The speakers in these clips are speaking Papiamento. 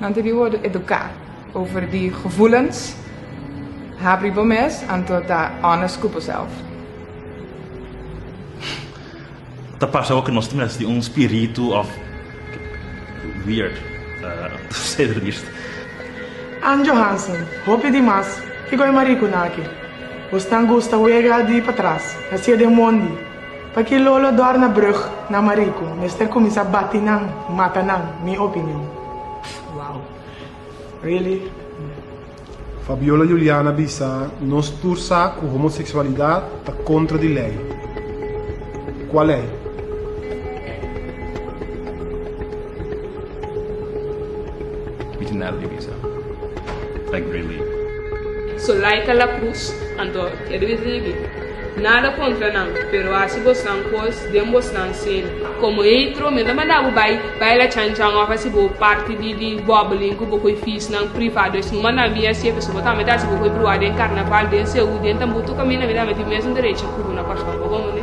Nan ta di worde educa over di gevoelens. Ha pri bo mes anto ta honest cu boself. Ta parse awor cu nos ta mester di un spiritu of weird to say the least. Ann Johansen, Hopi di mas ke goe maricunan aki. Bo stan gusta wega di patras, hacia den mondi. Paki lolo dòrna brug na mariku mester kuminsá bati nan, mata nan, mi opinion. Wow. Really? Fabiola Juliana bisa nos tur sa ku homoseksualidat ta kontra di lei. Kua lei? Mi tin nada di bisa. Like really. So like a la cruz, anto ke debe sibi. Nada kontra nan, pero hasi bosnan kos den bosnan sel. Komo eitro, mi ta manda bo bai baila chanchan òf hasi bo parti di di bòbelin ku bokoy fisnan privado. Esei no manda mi hasi e, pasobra bo tambe ta hasi bokoy bruha den karnaval, den Seú, den Tambutu kaminda mi ta mete e mesun derecha ku bo na kòrsou. Bo komo mi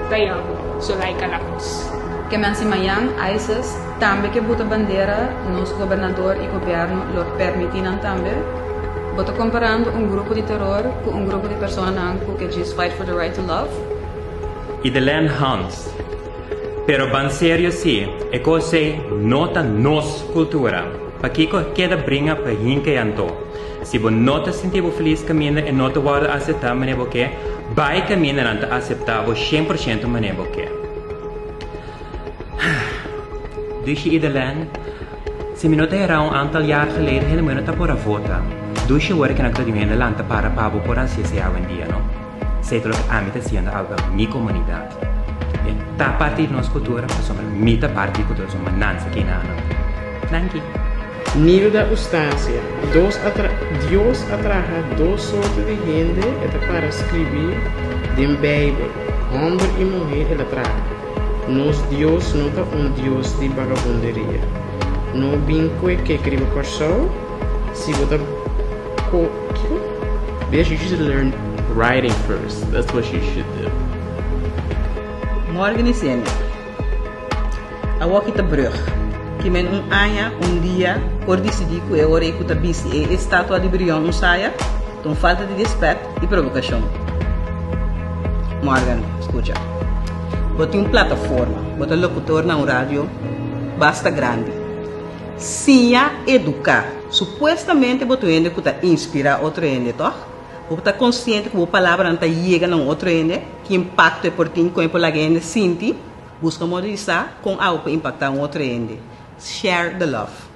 ta yama, so laika la kos. Ke mi a sima Jan Ayses. Tambe ke buta bandera nos gobernador y gobierno lo permiti nan tambe. Bo ta comparando un grupo di terror cu un grupo di personanan cu ke djis fight for the right to love. Y the land Hans. Pero ban serio si, e cos ey no ta nos cultura, pakico keda bringa pa hinca y anto? Si bo no ta sinti bo feliz caminda e no ta wordo acepta mane bo ke, bay caminda nan ta acepta bo cien por ciento mane bo ke. Dushi i Delen, Si mi no ta herá un antal jaar geleden hende moe no ta por a vota. Dushi worde kende ku ta ding'en delanti ta para pa bo por a hasié esei awendia, no? Esei ta loke ami ta hasiendo algu den mi komunidat. E ta parti di nos kultura pasobra mi ta parti di kultura, so manansa ki na annan. Danki. Nivel di abustancia, Dos a tra, Dios a traha dos sorto di hende, e ta para skribí den Beibel, Hòmber i muhé el a traha. Nos Dios no ta un Dios di bagabunderia. No bin cu e kek riba Corsou. Si bo ta co, kico? Bitch you should learn writing first that's what you should do. Morgen i semi. Awo aki ta brug. Ki men un aña, un dia, por dicidi cu e ora ei cu ta bisti e estatua di Brion un saya, ta un falta di respet, Di provokashon. Morgan, skucha. Bo tin un plataforma, bo ta lokutor na un radio basta grandi. Siña, eduká. Supuestamente bo ta un hende ku ta inspirá otro hende, tòg? Bo ta konsiente ku bo palabranan ta yega na un otro hende? Ki impakto e por tin? Kon e por laga e hende sinti? Buska modo di sa kon awe por impaktá un otro hende. Share the love.